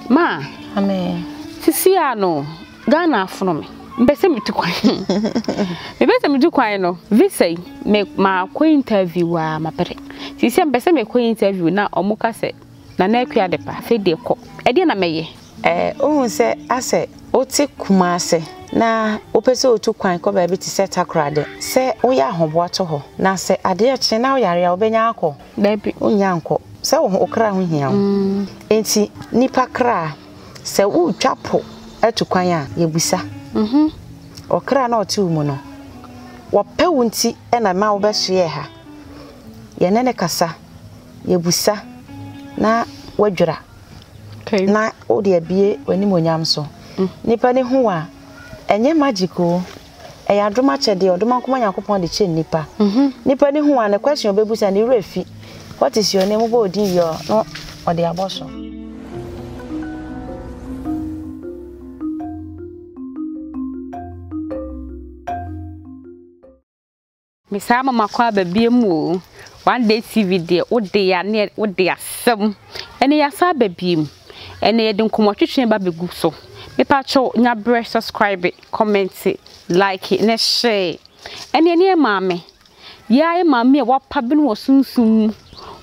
Ma. Amen. Sisi a no, Ghana afono me. Mbese me tu kwan. Mbese me tu kwan no, visa yi me ma ko interview a ma pere. Sisi mbese me ko interview na omo ka se na na akua de pa, fe de ko. E de na me ye. Eh, ohun se ase ote kuma ase na ope se otu kwan ko ba bi te se takorade. Se oya ahoboa to ho. Na se ade ekye na oyare a obenya ako. Dabi, wonnya nkɔ. Sɛ wo ho, wo kra ho hia wo. Enti nnipa kra, sɛ wotwa po atu kwan a, yebisa. Ɔkra no a ɔte wo mu no, wɔpɛ wo nti na ɛma wobɛsoɛɛ ha. Yɛne no kasa, yebisa, na wadwira. Na wode abue w'animuonyam so. Nnipa no hu wo a, ɛnyɛ magic o. Ɛyɛ adom akyɛdeɛ, ɔdom anko ma Nyankopɔn de kyɛ nnipa. Nnipa ani hu a, ne question ɔbɛbusa, ne werɛ fi. What is your name? Wobɔ wo din wie a, na ɔde abɔ so. Mesaa mama kɔ aba biom o. One day TV deɛ wo de ya ne wo de asɛm. Ɛnɛ yasa aba biom. Ɛnɛ yɛde nkɔmɔ twetwe ba bɛ gu so. Me pa kyɛw nya brɛ subscribe, comment, like ne share. Ɛnɛ ne yɛ maame. Yɛ a yɛ maame a wapa bene wɔ sunsum mu.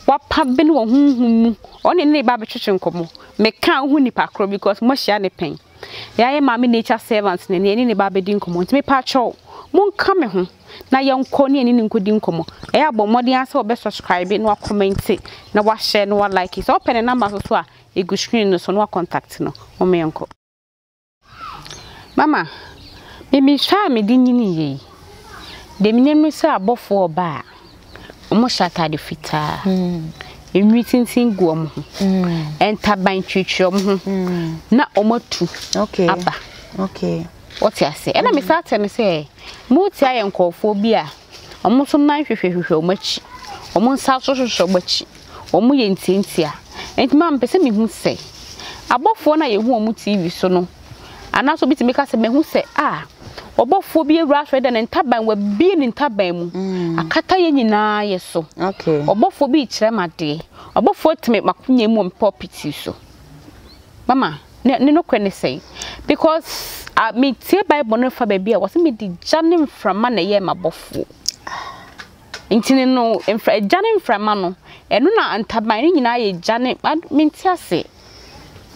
Wapa bene wɔ honhom mu. Ɔne ne ba bɛtwetwe nkɔmɔ. Me ka ho nipa koro because mo ahyia ne pɛn. Yɛ a yɛ maame nature servant ne ne yɛ ne ne ba bɛdi nkɔmɔ. Nti me pa kyɛw mo nka me ho. na yɛnkɔ ne yɛne no nkɔdi nkɔmmɔ. Ɛyɛ a bɔ mmɔden ara sɛ wobɛsubscribe na woakɔmmɛnte na woahyɛ na woalike. Sɛ wopɛ ne namba nso so a, ɛgu screen no so na woakɔntakte no. Momma yɛnkɔ. Mama, me mehwɛ a mede nyiniiɛ yi, deɛ menim ne sɛ abɔfoɔ ɔba a, wɔhyɛ atade fitaa. Enwi tintin gu wɔn ho. Ntaban twitwi wɔn ho. Na wɔatu aba. Okay. Wote ase? Ɛna me saa tɛ no sɛ, mo ti ayɛ nkurɔfoɔ bi a, wɔn nso nan hwehwɛ hwehwɛ wɔn akyi, wɔn nsa nso hwehwɛ wɔn akyi, wɔn yɛ ntiantia. Ɛnti maa me pɛ sɛ me hu sɛ, abɔfoɔ no a yɛ hu wɔn TV so no, anaasɛ obi tumi ka sɛ, me hu sɛ, ah, ɔbɔfoɔ bi awura asɔre dɛ ne ntaban, wa bie ne ntaban mu, mm. akata yɛ nyinaa yɛ so. Ɔbɔfoɔ bi kyerɛ ma deɛ, ɔbɔfoɔ tɛmɛ makonya mu wɔn pɔpiti so. Mama, ne ne nokorɛ ne sɛn? Because a me tie bible no fa baabi a wɔsɛ me di gya ne mframa na ɛyɛ m'abɔfoɔ. Nti ne no mfra gya ne mframa no ɛno na ntaban no nyinaa yɛ gya ne me nti ase.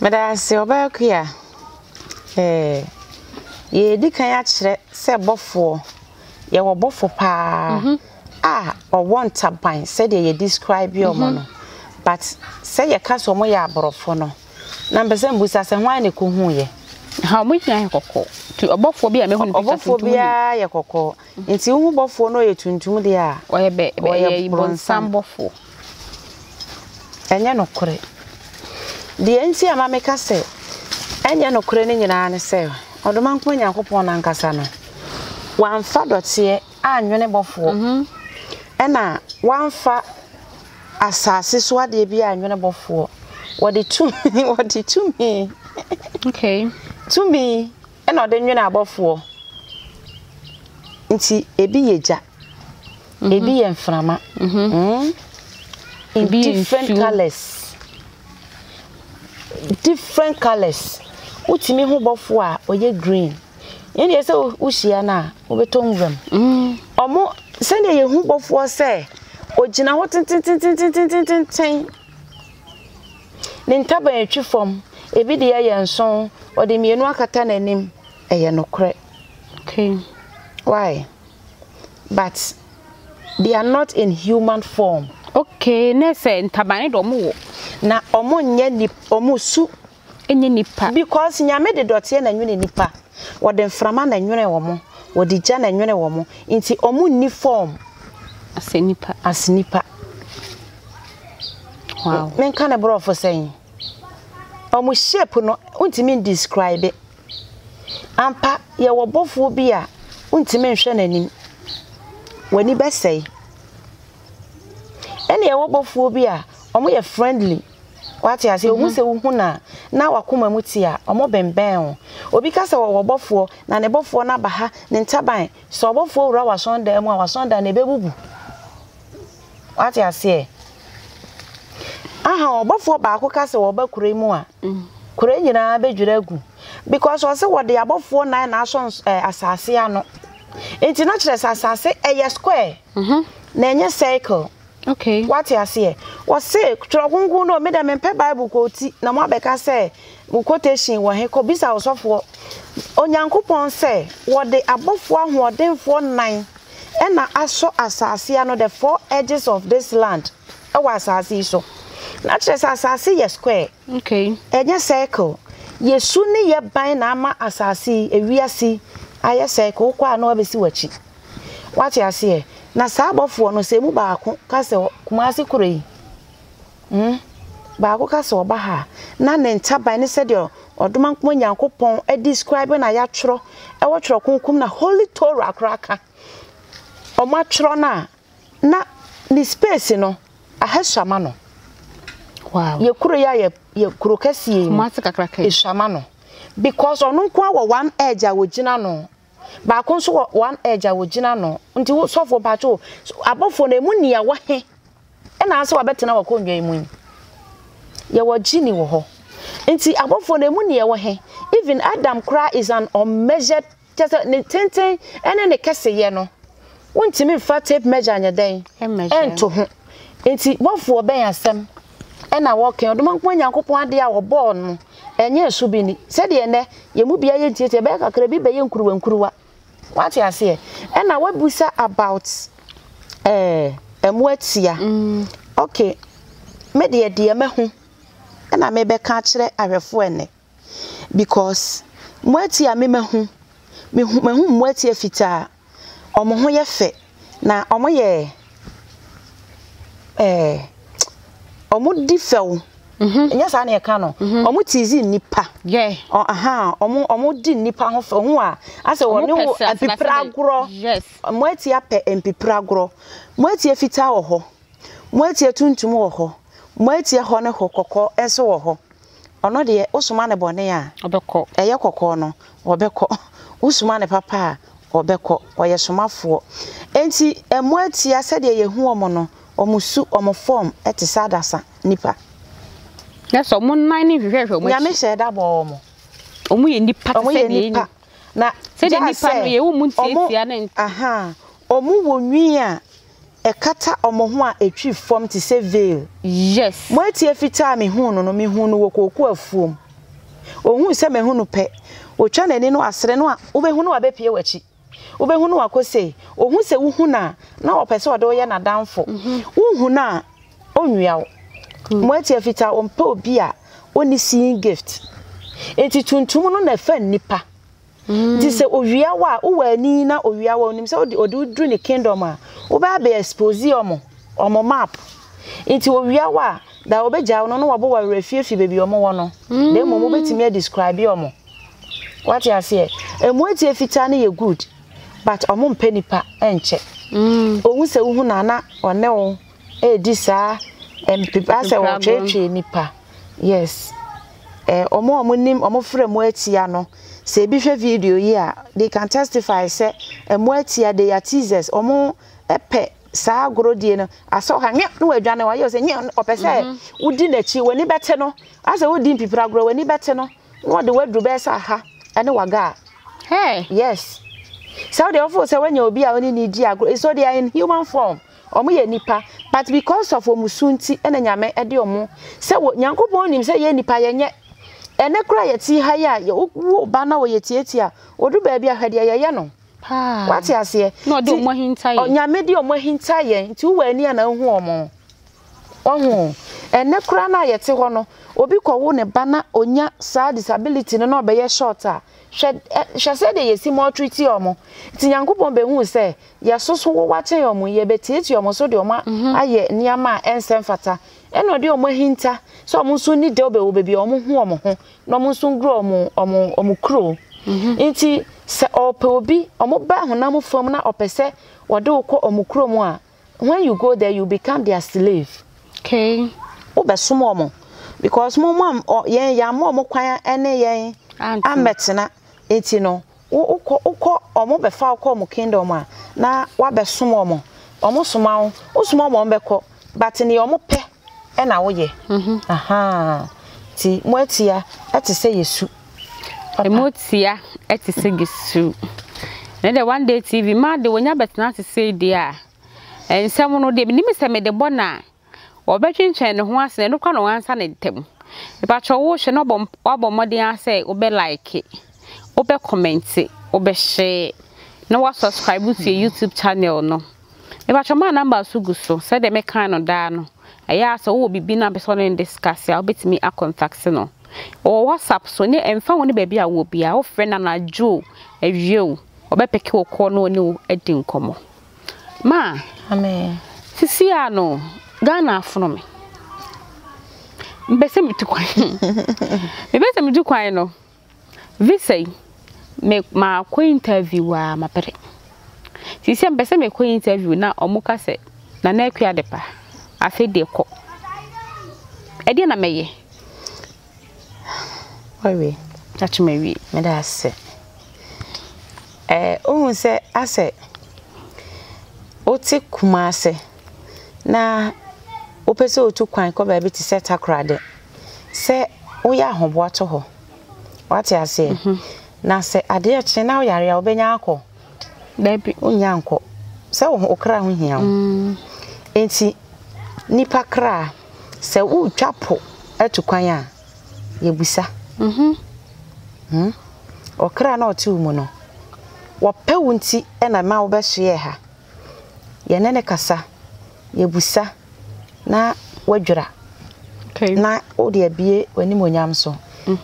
Meda ase ɔbaa kua. Eh, yɛdi kan akyerɛ sɛ bɔfoɔ yɛwɔ bɔfo paa mhm. a ɔwɔ ntaban sɛdeɛ yɛ describe ɔmo mhm. no but sɛ yɛka sɛ ɔmo yɛ aborɔfo no na mpɛ sɛ mbusa sɛ hwan na ɛkɔ hu yɛ ha ɔmo nyinaa yɛ kɔkɔɔ nti ɔbɔfoɔ bi a mɛhu no picture tuntum ɔbɔfoɔ biara yɛ kɔkɔɔ nti wohu bɔfoɔ no ɔyɛ tuntum deɛ a ɔyɛ bɛ ɔyɛ bɔnsam bɔfoɔ Ɛnyɛ nokorɛ. Deɛ nti a ɛma meka sɛ ɛnyɛ nokorɛ no nyinaa ne sɛ, Ɔdomankoma Nyankopɔn no ankasa no, wamfa dɔteɛ annwene bɔfoɔ, ɛna wamfa asase so adeɛ biara annwene bɔfoɔ. Wɔde tumi, wɔde tumi, okay, tumi ɛna ɔde nwene abɔfoɔ. Nti ebi yɛ gya. Mm-hmm. Ebi yɛ mframa. Mm-hmm. Mm? In Ebi different nsuo. colors. Different colors. Wotumi ho bɔfo a ɔyɛ green. Yɛn deɛ sɛ wohyia no a wobɛtɔ nwuram. Mm. Ɔmo sɛdeɛ yɛn ho bɔfoɔ sɛ ogyina hɔ tententententententen. Ne ntaban atwi fam. Ebi deɛ yɛ nson. Ɔde mmienu akata n'anim. Ɛyɛ nokorɛ. Okay. Why? but they are not in human form. Okay, ne sɛ ntaban ne de ɔmo wɔ. Na ɔmo nyɛ nip ɔmo su. Nyɛ nipa. Because nyame de dɔteɛ na nwene nipa. Wɔde mframa na nwene ɔmo. Wɔde gya na nwene ɔmo. Nti ɔmo nni form. As a nipa. As nipa. Wow. Menka ne borɔfo sɛn. Ɔmo shape no wontumi describe. Ampa, yɛwɔ ɔbɔfoɔ bi a wontumi nhwɛ n'anim, w'ani bɛsɛe. Ɛna yɛwɔ ɔbɔfoɔ bi a wɔyɛ friendly, wate aseɛ, wɔhu mhm. sɛ wohu no a na wakoma mu te a wɔbɛnbɛn wo. Obi ka sɛ wɔwɔ ɔbɔfoɔ na ne bɔfoɔ no aba ha, ne ntaban, sɛ ɔbɔfoɔ wura w'asɔndan mu a w'asɔndan no ɛbɛbubu. wate aseɛ aha ɔbɔfoɔ baako ka sɛ wɔba kura mu a kura nyinaa bɛdwira agu because ɔse wɔde abɔfoɔ nan na asɔ eh, asase ano nti na kyerɛ sɛ asase ɛyɛ square mhm. na ɛnyɛ circle okay wate aseɛ wɔse twerɛ kronkron no medɛ mempɛ bible kɔɔti na moabɛka sɛ wo quotation wɔ he kɔbisa ɔsɔfoɔ onyankopɔn sɛ wɔde abɔfoɔ ahoɔdenfoɔ nan na asɔ asase ano, the four edges of this land, wɔ asase yi so. Na kyerɛ sɛ asase yɛ square. Okay. Ɛnyɛ circle. Yesu ne yɛ ban na ama asase yi, ewiase ayɛ circle. Wokɔ a na wabɛsi w'akyi. Wate aseɛ? Na saa abɔfoɔ no, sɛ emu baako ka sɛ Kumasi kuro yi, Hm. Baako ka sɛ ɔba ha a, na ne ntaban ne sɛdeɛ Ɔdomankoma Nyankopɔn describe no a yɛatwerɛ wɔ Twerɛ Kronkron mu no a Holy Torah koraa ka, wɔatwerɛ no a, na ne space no, ahɛsuama no. Wow. Yɛ kuro yi a yɛ, yɛ kuro kɛseɛ yi mu. Kumase kakraka yi. Esuama no. Because ɔno nko ara wɔ one edge a wɔgyina no. Baako nso wɔ one edge a wɔgyina ano. Nti wo sɔfoɔ mpakyɛ o, abɔfoɔ no ɛmu nia wɔ he ɛna asɛ wabɛtena wakonnwa yi mu yi? Yɛwɔ genie wɔ hɔ. Nti abɔfoɔ no ɛmu nia wɔ he? Even Adam koraa is an unmeasured kyɛ sɛ ne tenten ɛne ne kɛseyɛ no wontumi mfa tape measure nyɛ dɛn ɛnto ho. Nti bɔfoɔ bɛn asɛm na wɔka Ɔdomankoma Nyankopɔn adeɛ a wɔbɔɔ no ɛnyɛ ɛso bi ni sɛdeɛ ɛnɛ yɛn mu biara yɛ ntiatia ɛbɛyɛ kakra bi bɛyɛ nkuruwa nkuruwa wate aseɛ ɛna wabusa about ɛɛ ɛmo atia mm. okay me deɛ deɛ mɛho ɛna mebɛka akyerɛ ahwɛfoɔ ɛnɛ because moatia me mahu mehu mahu moatia fitaa ɔmo ho yɛ fɛ na ɔmo yɛ ɛɛ ɔmo di fɛw ɛnyɛ saa na yɛka no ɔmo tizi nnipa yɛ ɔ aha ɔmo ɔmo di nnipa ho fɛw ho a asɛ wɔne Ɔmo pɛ wo sɛ afenasɛ mpepere dɛ- agorɔ yes moatia pɛ mpepere agorɔ moatia fitaa wɔ hɔ moatia tuntum wɔ hɔ moatia hɔ ne hɔ kɔkɔɔ nso wɔ hɔ Ɔno deɛ, wosoma no bɔne a, ɛyɛ kɔkɔɔ no, ɔbɛkɔ. Wosoma no papa a, ɔbɛkɔ. Ɔyɛ somafoɔ. Enti, mmoa tia, sɛdeɛ yɛhu wɔn no, wɔn su, wɔn fɔɔm te sɛ adasa, nnipa. Na sɛ wɔn nan no nhwehwɛhwɛ wɔn akyi. Nyame hyɛɛ da bɔɔ wɔn. Wɔn yɛ nnipa te sɛ deɛ yɛn. Na gyaa sɛ wɔn wɔ nwi a ɛkata wɔn ho a ɛtwi fam te sɛ veil. Yes. Moatie fitaa a mehuu no no, mehuu no wɔ kooko afuom. Ɔhuu sɛ mahu no pɛ, ɔtwa n'ani no asere no a, wobɛhu no abɛpue w'akyi. Wobɛhu no akɔ sei. Ɔhu sɛ wohu no a, na ɔpɛ sɛ ɔde wo yɛ n'adamfo. Wohu no a, ɔnwia wo. Moatie fitaa, ɔmpɛ obi a ɔnni seeing gift. Enti tuntum no na ɛfa nnipa. Nti sɛ owia wo a wowɔ ani na owia wo a onim sɛ wode ɔde wo duru ne kingdom a wobɛ abɛ expose ɔmo ɔmo map nti owia wo a da ɔbɛ gyae wo no na wabɔ wo awerɛ afie fi baabi ɔmo wɔ no na mmom wobɛtumi a describe ɔmo wate aseɛ ɛmu atie fitaa no yɛ good but ɔmo mpɛ nipa ɛnkyɛ ohu sɛ wohu no a na ɔne wo. redi saa mpepa asɛ wɔtweetwee nnipa yes eh, ɔmo a ɔmo nim ɔmo frɛ mo atia no sɛ ebi hwɛ video yi a they can testify sɛ ɛmo atia they are teasers ɔmo pɛ saa agorodie no asɛ ɔka nyɛ na wadwane wayɛ ɔsɛ nyɛ ɔpɛ sɛ mhm. wodi n'akyi w'ani bɛte no asɛ wodi mpipira agorɔ w'ani bɛte no na ɔde waduru bɛyɛ sɛ aha ɛne waga a yes sɛ wode ɔfo sɛ wanya obi a ɔne ne di agorɔ so they are in human form Ɔmo yɛ nnipa but because of ɔmo su nti na Nyame de ɔmo sɛ wɔ Nyankopɔn nim sɛ yɛ nnipa yɛ nyɛ ɛnɛ koraa yɛ te ha yi a yɛ wo ba na ɔyɛ tiatia a ɔdu baabi a hwɛ deɛ yɛ yɛ no wate aseɛ nti Nyame de ɔmo ahinta yɛn nti wo wɔ ani a na wo hu ɔmo ɔho ɛnɛ koraa na yɛ te hɔ no obi kɔ wo ne ba na ɔnya saa disability no na ɔbɛyɛ short a hwɛ hwɛ sɛ deɛ yɛ si mɔtriti ɔmo nti Nyankopɔn bɛ hu sɛ Yɛsoso wo wakyɛ wɔn, yɛbɛtiatia wɔn so de wɔn ayɛ nneɛma a ɛnsɛ mfata, ɛna ɔde wɔn ahinta sɛ wɔn nso nni dɛwbɛ wɔ baabi a wɔho wɔn ho, na wɔn nso ngura wɔn wɔn kuro. Enti sɛ ɔrepɛ obi, wɔn ba honam fam na ɔpɛ sɛ ɔde wo kɔ wɔn kuro mu a, when you go there, you become their slave. Okay. Wobɛsom wɔn because mo mo a yɛn yɛammɔ wɔn kwan ne yɛn ammɛtena, enti no Wo wokɔ wokɔ ɔmo bɛ fa wo kɔ ɔmo kingdom a na wa bɛ som ɔmo ɔmo soma wo wo soma ɔmo ɔmo bɛ kɔ but neɛ ɔmo pɛ ɛna wo yɛ ahaa ti mo atia ɛte sɛ yɛ su papa. Mo atia ɛte sɛ yɛ su ne dɛ one day TV ma de wo nya bɛ tena ase sei deɛ a ɛnsɛm no deɛ me nim sɛ me de bɔ na Wɔbɛtwentwɛn ne ho ase na ɛno koraa na wɔansa ne ntam. Mepakyɛw wo hwɛ na wabɔ wabɔ mmɔden ara sɛ wobɛ like, wobɛ comment, wobɛ share, na wa subscribe to yɛ YouTube channel no. Mepakyɛw maa number so gu so sɛdeɛ mɛkan no daa no. Ɛyɛ a sɛ wowɔ biribi na apɛ sɛ ɔne no discuss a wobɛtumi a contact no. Ɔwɔ WhatsApp so ne ɛmfa ho ne baabi a wowɔ biara wofrɛ no anadwo o, awia o, ɔbɛpeke wo kɔɔ na ɔne wo adi nkɔmmɔ. Ma sisi a no Ghana afono me Mepɛ sɛ metu kwan Mepɛ sɛ metu kwan no Visa yi me makɔ interview a mapere Sisi a mepɛ sɛ mekɔ interview na ɔmo ka sɛ Nana Akua Adepa afei deɛ kɔ Ɛdeɛ na mɛyɛ Wawie akyɛ me awie meda ase ɛɛ ohun sɛ asɛ wote kumase na wopɛ sɛ otu kwan kɔ baabi te sɛ takoradi sɛ woyɛ ahoboa to hɔ wate aseɛ mhm. na sɛ adeɛ kye na woyare a wobɛnya akɔ baabi wonya nkɔ sɛ wo kra ho hia wo mm. nti nipa kra Sɛ woretwa po atu kwan a, yɛbisa. Hmm? Ɔkra na ɔte wo mu no, wɔpɛ wo nti na ɛma wobɛsoɛɛ ha. Yɛne ne kasa, yɛbisa, na wadwira. Okay. Na wode abie w'animuonyam so.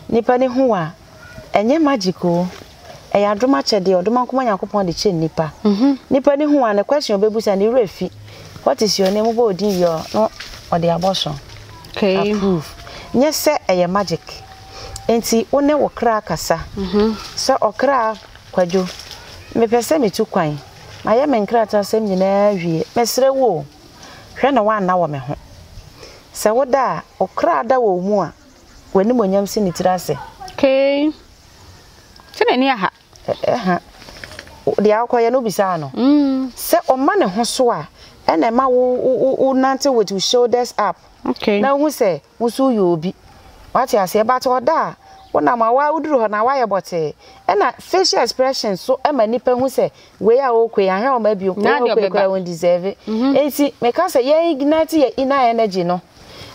Nnipa no hu wo a, Ɛnyɛ magic oo, ɛyɛ adom akyɛdeɛ, ɔdom ankoma Nyankopɔn de kyɛ nnipa. Nnipa no hu a, ne question ɔbɛbusa ne werɛ fi. What is your name? Wobɔ wo din wie a, na ɔde abɔso approve. Nyɛ sɛ ɛyɛ magic. Enti wo ne wo kra kasa sɛ ɔkra Kwadwo, mepɛ sɛ metu kwan, mayɛ me nkratasɛm nyinaa awie, mesrɛ wo o, hwɛ na woanna wɔ me ho. Sɛ woda a, wo kra da wɔ wo mu a, W'animuonyam si ne tiri ase. Kei, sɛ n'ani aha. Ɛha. Deɛ wokɔyɛ no, wobisaa no. Sɛ ɔma ne ho so a, ɛna ɛma wo wonante with wo shoulders up. Okay. Na wohu sɛ wo nso woyɛ obi. Wate aseɛ? But ɔda a, wonam a woa woduru hɔ no a, woayɛ bɔtee. Ɛna facial expression nso ma nnipa hu sɛ wei a ɔɔkɔ yi, ahwɛ ɔma bio. Wei a ɔɔkɔ yi koraa, ɔndeserve. Enti meka sɛ yɛn ignite yɛn inner energy no.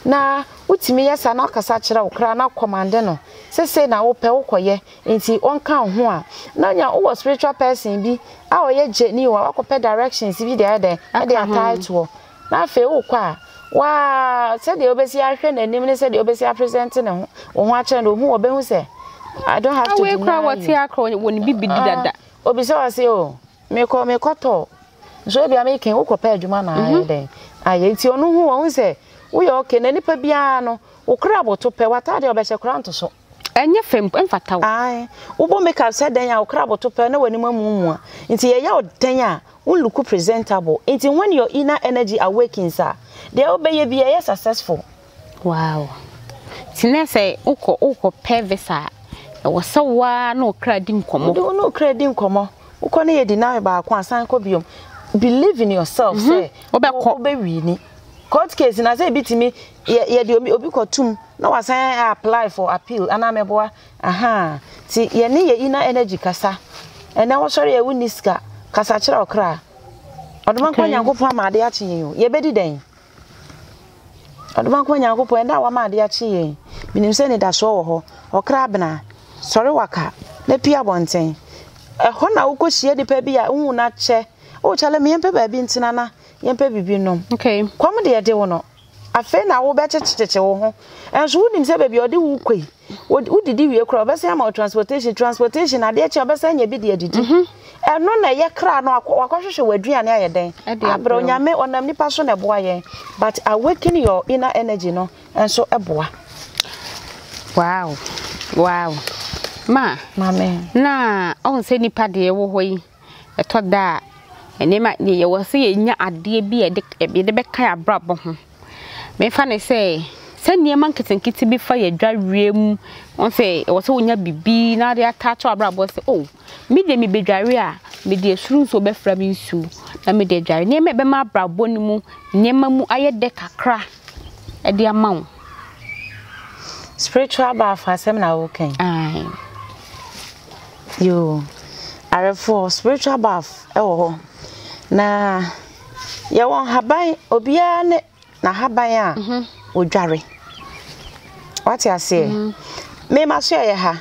Na wotumi yɛ saa na wakasa akyerɛ wo koraa na kɔmande no sɛ sei na wopɛ wokɔyɛ nti ɔnka wo ho a, na nya wowɔ spiritual person bi a ɔyɛ gyani o a wakɔpɛ directions bi de ayɛ dɛn ɛde atae toɔ na afei wokɔ a waa sɛdeɛ wobɛsi ahwɛ n'anim ne sɛdeɛ wobɛsi apresente ne ho wo ho akyerɛ no ohu ɔbɛhu sɛ I don't have to deny you. Wei kora wɔte akora wɔn bibidi dada. Obi sɛ ɔse o. mekɔ mekɔtɔ nso ebia meke wokɔpɛ adwuma na ayɛ mhm. dɛn ayɛ nti ɔno hu wɔn sɛ woyɛ ɔke na nipa biara no wokura aboto pɛ wataade ɔbɛhyɛ kora nto so ɛnyɛ fam mfata wo ae wobɔ makeup sɛ dɛn a wokura aboto pɛ na w'anim amumua nti yɛyɛ wo dɛn a wo look presentable nti when your inner energy awakens a deɛ wobɛyɛ bi ɛyɛ successful Wow nti nɛ sɛ wokɔ wokɔ pɛ visa a ɛwɔ sɛ wo ara ne wo kra di nkɔmɔ. Wode wo ne wo kra di nkɔmɔ wokɔ ne yɛ deny baako a san kɔ biom believe in yourself sɛ wobɛkɔ wobɛ wini court case na sɛ ebi tumi yɛ yɛde obi obi kɔ tum na wasan apply for appeal anaa mɛboa ahaa ti yɛ ne yɛ inner energy kasa ɛnɛ wɔsɔre yɛ wo ni sika kasa kyerɛ ɔkra ɔdoma nkɔ nyankopɔn ama ade akye yɛn o yɛbɛdi dɛn. Ɔdomfoɔ Nyankopɔn, ɛda a woama adeɛ akye yɛn yi, menim sɛ anidasoɔ wɔ hɔ. Ɔkra bena, sɔre waka, na pue abɔnten. Ɛhɔ na wokɔhyia nipa bi a wohu no akyɛ. O Charlie, me yɛmpɛ baabi ntena na yɛmpɛ biribi nnom. Kɔm deɛ ɛde wo no, afei na wobɛkyekyekyekye wo ho. Nso wonim sɛ baabi a ɔde wo rekɔ yi, wo wo didi wie kura ɔbɛsɛn ama wo transportation transportation adeɛ kyɛ ɔbɛsɛn nya bi de adidi mhm. ɛno na ɛyɛ kra no wakɔhwehwɛ wɔ aduane ayɛ dɛn abrɛ onyame ɔnam nipa so na ɛboa yɛn but awaken your inner energy no nso ɛboa wow wow ma maame na ɔhu sɛ nipa deɛ ɛwɔ hɔ yi Ɛtɔ da a, nneɛma bi yɛwɔ sɛ yɛnya adeɛ bi a yɛde k ɛ yɛde bɛka yɛn abrabɔ ho. Memfa no sɛ, sɛ nneɛma nketenkete bi fa yɛn adwareɛ mu, woahu sɛ ɛwɔ sɛ wonya biribi na wode ataakyɛ w'abrabɔ sɛ o, me deɛ mebɛdware a, mede ɛsoro nsuo bɛfra me nsuo na mede adware. Nneɛma a ɛbɛma abrabɔ no mu nneɛma mu ayɛ dɛ kakra de ama wo. Spiritual baafo asɛm na woreka yi? Aane. Yoo arefoɔ spiritual bath ɛwɔ hɔ na yɛwɔ nhaban obiara ne n'ahaban a odware wate aseɛ me ma so ɛyɛ ha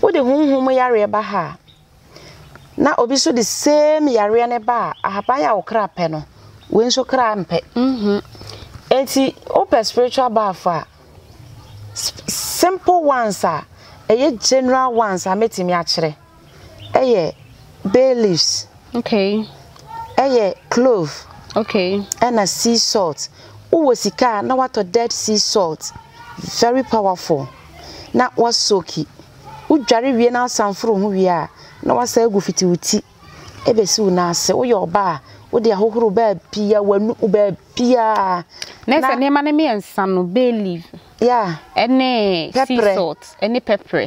wode honhom yareɛ ba ha a na obi so de same yareɛ ne ba a ahaban a okra pɛ no wei nso kra mpɛ eti wopɛ spiritual bath a Simple ones a ɛyɛ general ones a mɛtumi akyerɛ ɛyɛ bay leaves, ɛyɛ clove ɛna sea salt. Wowɔ sika a na woatɔ dead sea salt, very powerful, na woasoaki. Wodware wie na woasan foro ho wie a na woasan agu fiti wo ti. Ebesi wo nan ase, woyɛ ɔbaa a, wode ahohoro baabiara, w'anomu baabiara. Na ɛsɛ nneɛma no mmiɛnsa no, bay leaf, ɛne sea salt, ɛne pɛprɛ,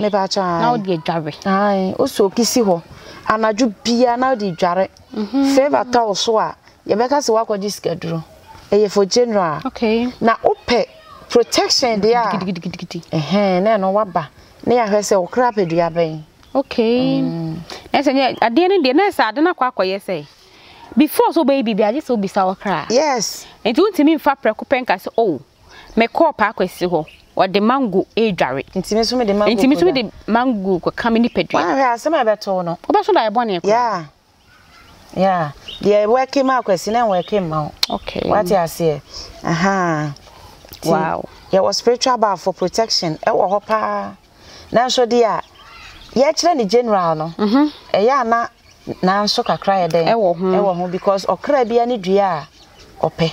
na wode adware. Ae, wo soki si hɔ anadwo biara na wode dware. Mhm. Fever tɔ wo so a, yɛbɛka sɛ woakɔgye sikaduro. Ɛyɛ for general. Okay. Na wopɛ protection deɛ a, ɛhɛn, na ɛno waba. Na yɛahwɛ sɛ wo kra pɛ dua bɛn. Okay na sɛ nyɛ adeɛ no deɛ na sɛ ade no akɔ akɔyɛ sɛ before sɛ wobɛyɛ biribi agye sɛ wobisa wɔ kra yes nti wontumi mfa prɛko pɛ nka sɛ oh mekɔɔ paa kwasi hɔ ɔde mango ɛredware nti me so mede mango nti me so mede mango kɔka me nipadua wanhwɛ asɛm a ɛbɛto no wobɛso da yɛ bɔne kɔ yeah Yeah, deɛ ɛwɛke ma akwasi na ɛwɛke ma wo. Okay. Wate aseɛ. Aha. Wow. Yɛwɔ spiritual bar for protection ɛwɔ hɔ paa. Nanso deɛ a yɛkyerɛ ne general no. Mhm. Ɛyɛ ana nanso kakra yɛ dɛn. Ɛwɔ ho. Ɛwɔ ho because ɔkra bia ne dua a ɔpɛ.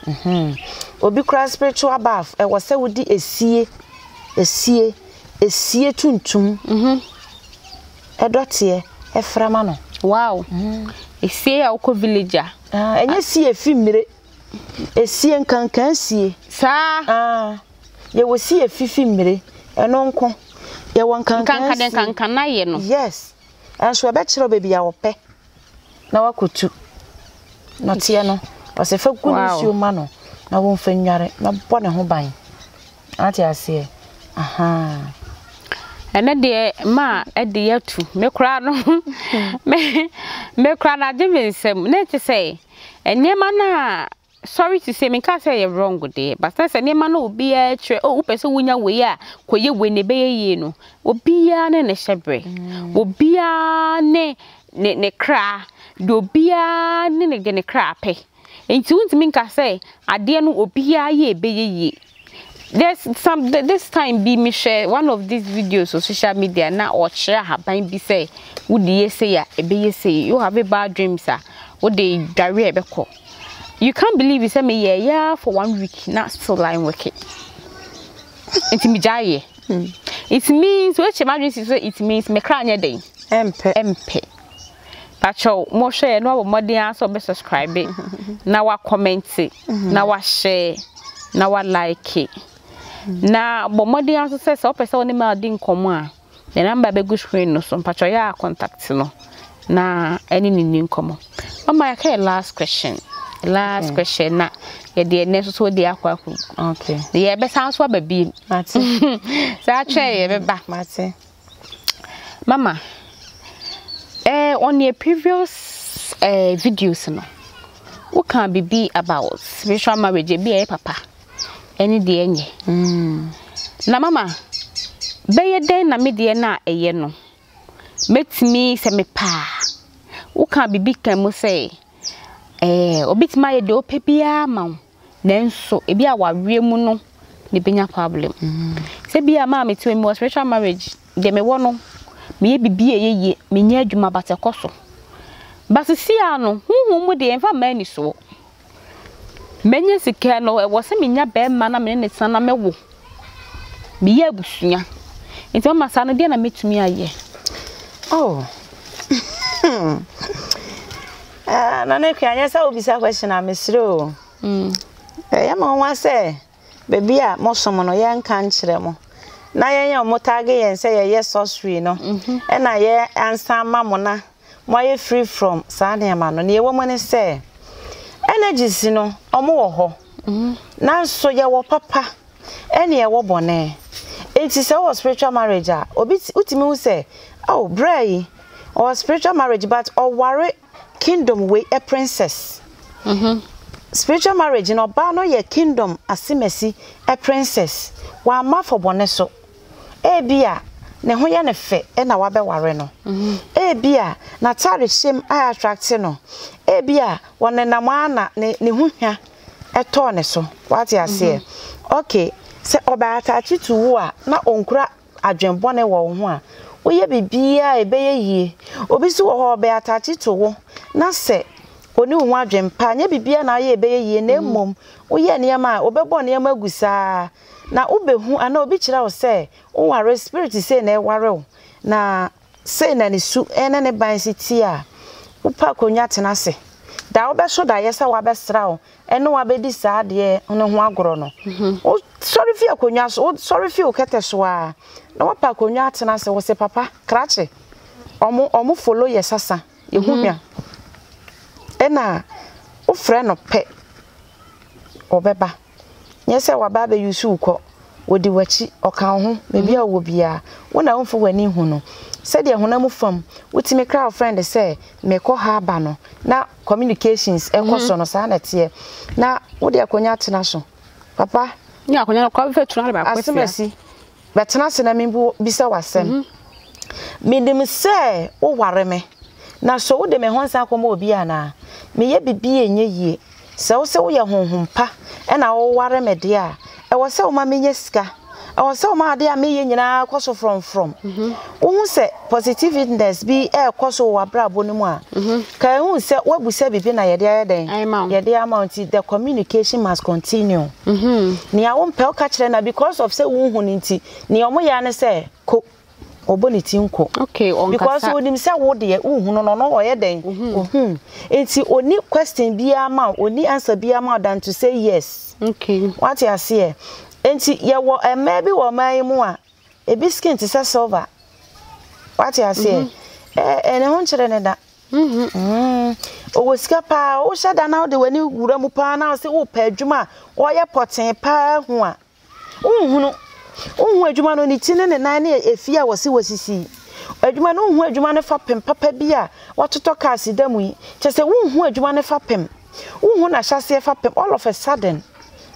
Mhm. Obi kura spiritual bar ɛwɔ sɛ wodi esie esie esie tuntum. Mhm. Ɛdɔ teɛ ɛfra ma no. Wow esie a wokɔ village a. Ah ɛnyɛ sie efi mmire esie nkankan sie. Saa. Ah yɛ wɔ sie efi fi mmire ɛno nko yɛ wɔ nkankan sie. Nkankan de nkankan na yɛ no. Yes ɛnso ɛbɛkyerɛ baabi a wɔpɛ. na wakotu nɔteɛ no ɔsɛ fa gu ne nsuo ma no na wɔmfa nnware na bɔ ne ho ban ate aseɛ ahaa ɛnɛ deɛ ma ɛde yɛtu me koraa no me koraa no agye me nsam na ɛte sɛ nneɛma no a Sorry to say, menkaa sɛ ɛyɛ wrong de, but na sɛ nneɛma no a obiara kyerɛ, oh wopɛ sɛ wunya wei a, kɔyɛ wei na ɛbɛyɛ yie no, obiara ne ne hyɛberɛ, obiara ne ne ne kra, deɛ obiara ne ne deɛ ne kra pɛ. Nti wontumi nka sɛ adeɛ no obiara yɛ a ɛbɛyɛ yie. There's some this time bi mehwɛ one of these videos on social media na ɔkyerɛ ahaban bi sɛ wode yɛ sei a ɛbɛyɛ sei, you have a bad dreams a wode dware a ɛbɛkɔ. you can't believe it sɛ me yɛ yɛ ara for one week na still line work it nti me gya yɛ hmm. it means wɔakyɛ m'adwene si so sɛ it means me kra nyɛ den ɛmpɛ ɛmpɛ patrol mohwɛ yɛ na wabɔ mmɔden ara sɛ ɔbɛ subscribe na wakɔmɛnte mhm. na wahyɛ na walike na bɔ mmɔden ara nso sɛ sɛ ɔpɛ sɛ ɔne ma ɔde nkɔmmɔ a Ne number bɛgu screen no so mpakyɛw yɛ a contact no na ɛne no nni nkɔmmɔ. Mama yɛaka yɛ last question last okay. question na yɛde ɛnɛ nso so de akɔ akɔ okay. na yɛbɛsan so aba biem saa kyerɛ yɛbɛba mate mama eh, on your previous eh, videos no woka biribi about spiritual marriage ebi ɛyɛ papa ɛne deɛ ɛnyɛ. Na mama, bɛyɛ dɛn na me deɛ no a ɛyɛ no, mɛtumi sɛ mepɛ a, wokaa biribi kaa mu sɛ, ɛɛ, ɔbɛtumi ayɛ deɛ ɔpɛ biara ma wo, nanso ebi a waweɛ mu no na ɛbɛnya problem. Sɛ bi a maa mete wɔ mu wɔ spiritual marriage, deɛ mewɔ no, meyɛ biribi a ɛyɛ yie, menyɛ adwuma but ɛkɔ so. But sesia no, honhom mu deɛ ɛmfa mmaa anisoɔ. Mɛnya sika no, ɛwɔ sɛ menya barima na me ne no san na mɛwo. Meyɛ abusua. Nti mama saa no, deɛ na mɛtumi ayɛ? Oh. Ah, na ne kura nyɛ sɛ wobisa question a mesrɛ o. Mm. Ɛyɛ ma nwa sɛ baabi a mosom no yɛnka nkyerɛ mo na yɛnyɛ ɔmo taage yɛn sɛ yɛyɛ sorcery no mhm. ɛna yɛ ansa ma mo na moayɛ free from saa nneɛma no, nea ɛwɔ mu ne sɛ, energies no, wɔwɔ hɔ, nanso yɛwɔ papa ɛnna yɛwɔ bɔne. Enti sɛ wowɔ spiritual marriage a, obi ti, wotumi hu sɛ, oh, braa yi, ɔwɔ spiritual marriage but ɔware kingdom wei ɛ princess. Spiritual marriage no, ɔbaa no yɛ kingdom asemasi ɛ princess. Wamma afɔbɔne so. Ebia ne ho yɛ no fɛ na wabɛware no. Ebia n'atadehyem ayɛ attractive no. Ebia ɔnenam ara na ne ho hwa tɔɔ ne so. Woate aseɛ? Okay, sɛ ɔbɛ attache to wo a na ɔnkura adwene bɔne wɔ wo ho a, woyɛ biribiara a ɛbɛyɛ yie. Obi nso wɔ hɔ a, ɔbɛ attache to wo na sɛ ɔnni wo ho adwene pa a, ɛnyɛ biribiara na woyɛ a ɛbɛyɛ yie na mmom woyɛ nneɛma a, ɔbɛbɔ nneɛma agu saa Na wubehu anaa obi kyerɛ wo sɛ woware spirit sei na ɛware wo na sei na ne su ne ne ban si teɛ a, wopɛ akonnwa tena ase. Da a wobɛso daeɛ sɛ wabɛsra wo ne wo abɛdi saa adeɛ no ho agorɔ no, wosɔre fi akonnwa so, wosɔre fi wo kɛtɛ so ara na woapɛ akonnwa atena ase. Wose papa, krakye, ɔmo ɔmo follow yɛ sasa, yɛ ho hwa. Ɛna wofrɛ no pɛ, ɔbɛba. Nyɛ sɛ wɔaba abɛyusu wo kɔ, wɔdi w'akyi, ɔka wo ho, baabi a wowɔ biara, wo na womfa w'ani nhu no. Sɛdeɛ honam fam wotumi kra wo frɛnd sɛ mekɔ ha aba no na communications kɔ so no, saa na ɛteɛ. Na wode akonnwa atena so, papa. Asɛm asi. Bɛtena ase na mebisa wo asɛm. Menim sɛ woware me, na so wode me ho nsa akɔma obi anaa? Meyɛ biribi a ɛnyɛ yie. Sɛ wose woyɛ honhom pa na woware me deɛ a, ɛwɔ sɛ woma menya sika. Ɛwɔ sɛ woma adeɛ a meyɛ nyinaa kɔ so frɔmfrɔm. Wohu sɛ positiveness bi rekɔ so wɔ w'abrabɔ no mu a, ka ehu sɛ woabisa biribi na yɛde ayɛ dɛn? Yɛde ama wo nti the communication must continue. Nea wompɛ wo ka kyerɛ na because of sɛ wonhu no nti nea wɔyɛ ara ne sɛ ko. Ɔbɔ ne ti nko. Because onim sɛ wo deɛ wohu no na ɔno ɔyɛ dɛn? Ohu. Nti ɔni question biara ma wo, ɔni answer biara ma wo than to say yes. Wate aseɛ? Nti yɛwɔ mmaa bi wɔ ɔman yi mu a ebi skin te sɛ silver wate aseɛ mhm. ɛɛ eh, eh, ne ho nkyerɛ ne da mhm. mm. ɔwɔ sika paa wohyɛ da na wode w'ani wura mu paa na ɔsɛ wopɛ adwuma a ɔyɛ pɔtee paa hu a wonhunu wohu adwuma no ne ti ne ne nan ne efie a wɔsi wɔsisi adwuma no wohu adwuma no fa pem papa bi a wɔtotɔ kaase da mu yi kyɛ sɛ wohu adwuma no fa pem wohu no ahyɛaseɛ fapem all of a sudden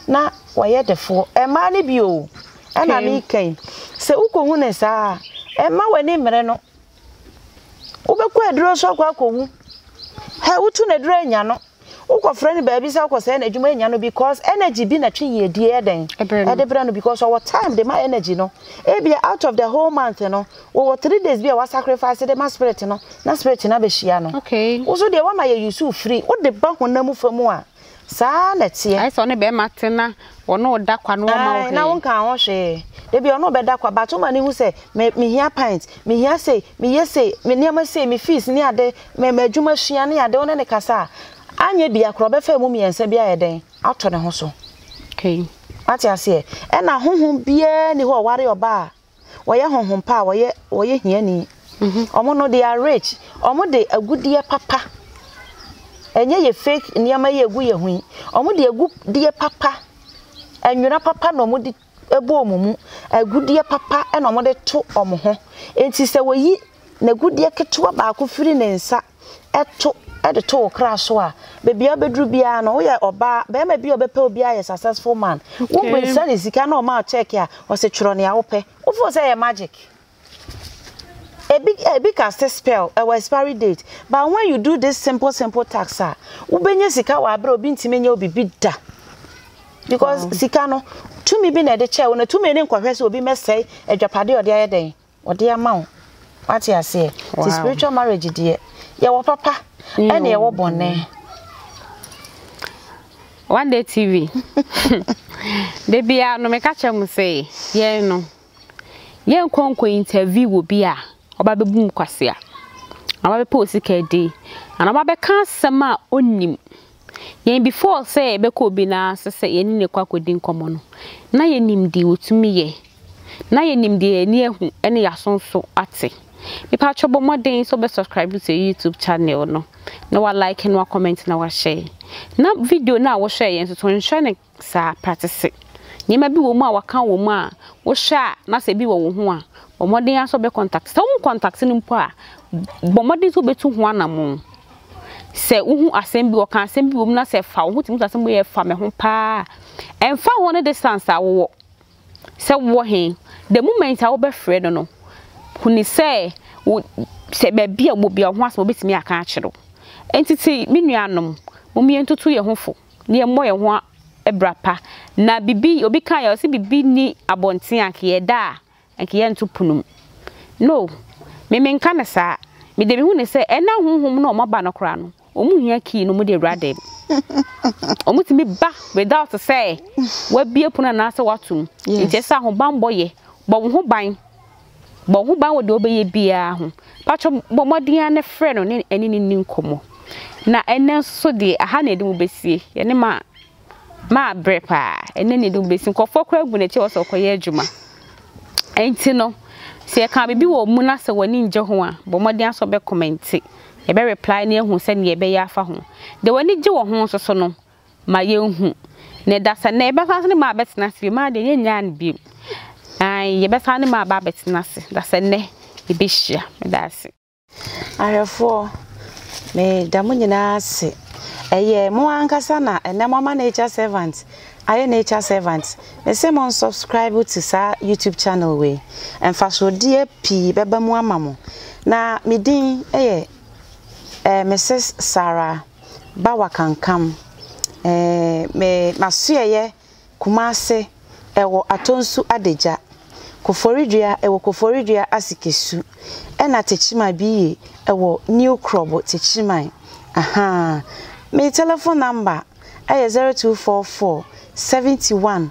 na wɔyɛ defoɔ mmaa no bi o ɛna meka yi sɛ wokɔhu no saa ɛma w'ani mmerɛ no wobɛkɔ aduro so akɔ akɔwu hɛ wotu no aduro anya no wokɔfrɛ no baabi sɛ wokɔ sɛ no adwuma anya no because energy bi na twe yie die ɛdɛn ɛde berɛ no because ɔwɔ time de ma energy no ebia out of the whole month no Wɔwɔ three days bi a wa sacrifice de ma spirit no na spirit no abɛhyia no. Okay. Wo so deɛ wama yɛ use wo firi wo de ba honam fa mu a saa na ɛteɛ. Ayɛ sɛ ɔne bɛrima te na wɔne wo da kwa no wɔma wo hwee. Na wo nka ho hwee. Dabi ɔne wo bɛda kwa but woma no hu sɛ me me hia pint, me hia sei, me yɛ sei, me nneɛma sei, me fees ne ade, me ma adwuma sua ne ade wo ne ne kasa a anyɛ bia kora ɔbɛfa ɛmu mmiɛnsa bi ayɛ dɛn ato ne ho so. Okay. Wate aseɛ? Ɛna honhom biara ni hɔ ɔware ɔbaa a wɔyɛ honhom pa a wɔyɛ wɔyɛ hiani. Wɔn no they are rich. Wɔn de agudeɛ papa. Ɛnyɛ yɛ fake nneɛma yi egu yɛ ho yi. Wɔn de agudeɛ papa, nwera papa na wɔn de ɛbɔ wɔn mu. Agudeɛ papa ɛna wɔn de to wɔn ho. Enti sɛ wɔyi n'agudeɛ ketewa baako firi ne nsa to de to wo kra so a baabi a wobɛduru biara no woyɛ ɔbaa bɛrima bi a ɔbɛpɛ obi ayɛ successful man wo bisa ne sika na ɔma check a ɔsɛ twerɛ nea wopɛ wofo sɛ ɛyɛ magic ebi ebi cast spell ɛwɔ expiry date but when you do this simple simple tax a wobɛnya sika wɔ abere obi ntumi nyɛ obi bi da because sika no tumi bi na ɛde kyɛɛ wo na tumi ne nkɔhwɛ sɛ obi mɛsɛe adwapade ɔde ayɛ dɛn wɔde ama wo wate aseɛ ti spiritual marriage deɛ yɛwɔ papa ɛna yɛwɔ bɔne one day tv da biara no meka kyerɛ mo sɛ yɛn no yɛnkɔ nkɔ interview wɔ bi a ɔba bɛbu mu kwasea ɔba bɛpɛ osika di anaa ɔba bɛka asɛm a ɔnnim Yɛn before sɛ yɛbɛkɔ obi nan ase sɛ yɛne no rekɔ akɔdi nkɔmmɔ no, na yɛnim deɛ ɔtumi yɛ, na yɛnim deɛ yɛani ahu ne yɛaso nso ate. Mepaatwɔ bɔ mmɔden sɛ wobɛ subscribe to yɛn YouTube channel no, na wa like na wa comment na wa share. Na video no a wohwɛeɛ nso to nhwɛ no Saa pratese nneɛma bi wɔ mu a wɔaka wɔ mu a wohwɛ a na sɛ ebi wɔ wo ho a, bɔ mmɔden ara sɛ wobɛkɔntakte. Sɛ wohu kɔntakte no mpo a, bɔ mmɔden sɛ wobɛtu ho anammɔn. Sɛ wohu asɛm bi, wɔka asɛm bi wɔ mu na sɛ fa wo ho tumi to asɛm bi yɛ fa me ho paa a, ɛmfa ho ne distance a wowɔ, sɛ wowɔ he, the moment a wobɛfrɛ no no, hu ne sɛ wo sɛ baabi a wɔ bia wo ho asɛm a obɛtumi aka akyerɛ wo. Enti te me nuanom, mom yɛntoto yɛn ho fo. na yɛmmɔ yɛn ho abira pa. Na biribi, obi kaeɛ, ɔse biribi nni abɔnten a nka yɛda a nka yɛnto pono mu. No, me menka no saa. Me de mehu no sɛ ɛna honhom no a wɔaba no koraa no, wɔn hia key na wɔn de awura dan mu. Wɔn tumi ba without sɛ wabie pono anaasɛ wato mu. Nti ɛsɛ ahobanbɔ yɛ, bɔ wo ho ban. Bɔ wo ho ban wɔ deɛ wobɛyɛ biara ho. Mpakyɛ bɔ mmɔden ara na frɛ no ne ɛne no nni nkɔmmɔ. Na ɛnɛ nso deɛ aha na yɛde mo bɛsie. Yɛne ma ma abrɛ paa. Ɛnɛ na yɛde mo bɛsie. Nkurɔfoɔ koraa agu n'akyi a wɔsɛ wɔkɔyɛ adwuma. Ɛnti no, sɛ yɛka biribi wɔ mu na sɛ w'ani ngye ho a, bɔ mmɔden ara sɛ wobɛkɔmɛnte. Yɛbɛ reply na yɛahu sɛdeɛ yɛbɛyɛ afa ho. Deɛ w'ani gye wɔ ho nso so no, ma yɛnhu. Na ɛda sɛ nnɛ yɛbɛsan so ne ma abɛtena ase bio. Maa deɛ yɛnnyaa no bio. Ae, yɛbɛsan ne ma aba abɛtena ase. Da sɛ nnɛ yɛbɛhyia. Meda ase. Ahwɛfoɔ, meda mo nyinaa ase. Ɛyɛ mo ankasa na ɛnnɛ mo ama nature servant ayɛ nature servant. Me se mo nsubscribe to saa YouTube channel wei. Mfasoɔdeɛ pii bɛba mu ama mo. Na me din yɛ eh, Mrs Sarah. ba wakankam eh, me masoɛyɛ Kumase ɛwɔ Atonsu Adagya, Koforidua ɛwɔ Koforidua Asikesu ɛna Techiman bi ye ɛwɔ New Krobo Techiman ahaa, me telephone number ɛyɛ zero two four four seventy one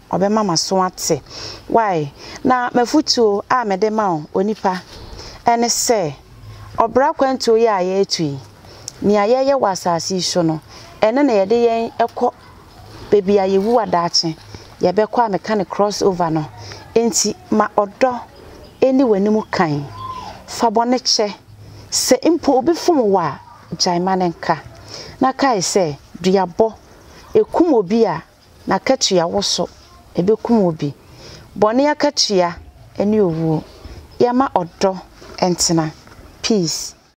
ɔbɛma m'aso ate. Y Na m'afotuo a mede ma wo, onipa, ne sɛ, Ɔbra akwantuo yi a yɛretu yi, nea yɛreyɛ wɔ asase yi so no, ɛno na yɛde yɛn kɔ baabi a yɛwu a daakye yɛbɛkɔ a meka no cross over no. Enti ma ɔdɔ nni w'anim kan. Fa bɔne kyɛ. Sɛ mpo obi fom wo a, gyae ma no nka. Na kae sɛ, duabɔ, ɛkum obi a, N'akatua wo so ɛbɛkum wo bi. Bɔne akatua ɛne owuo. Yɛma ɔdɔ ntena, peace.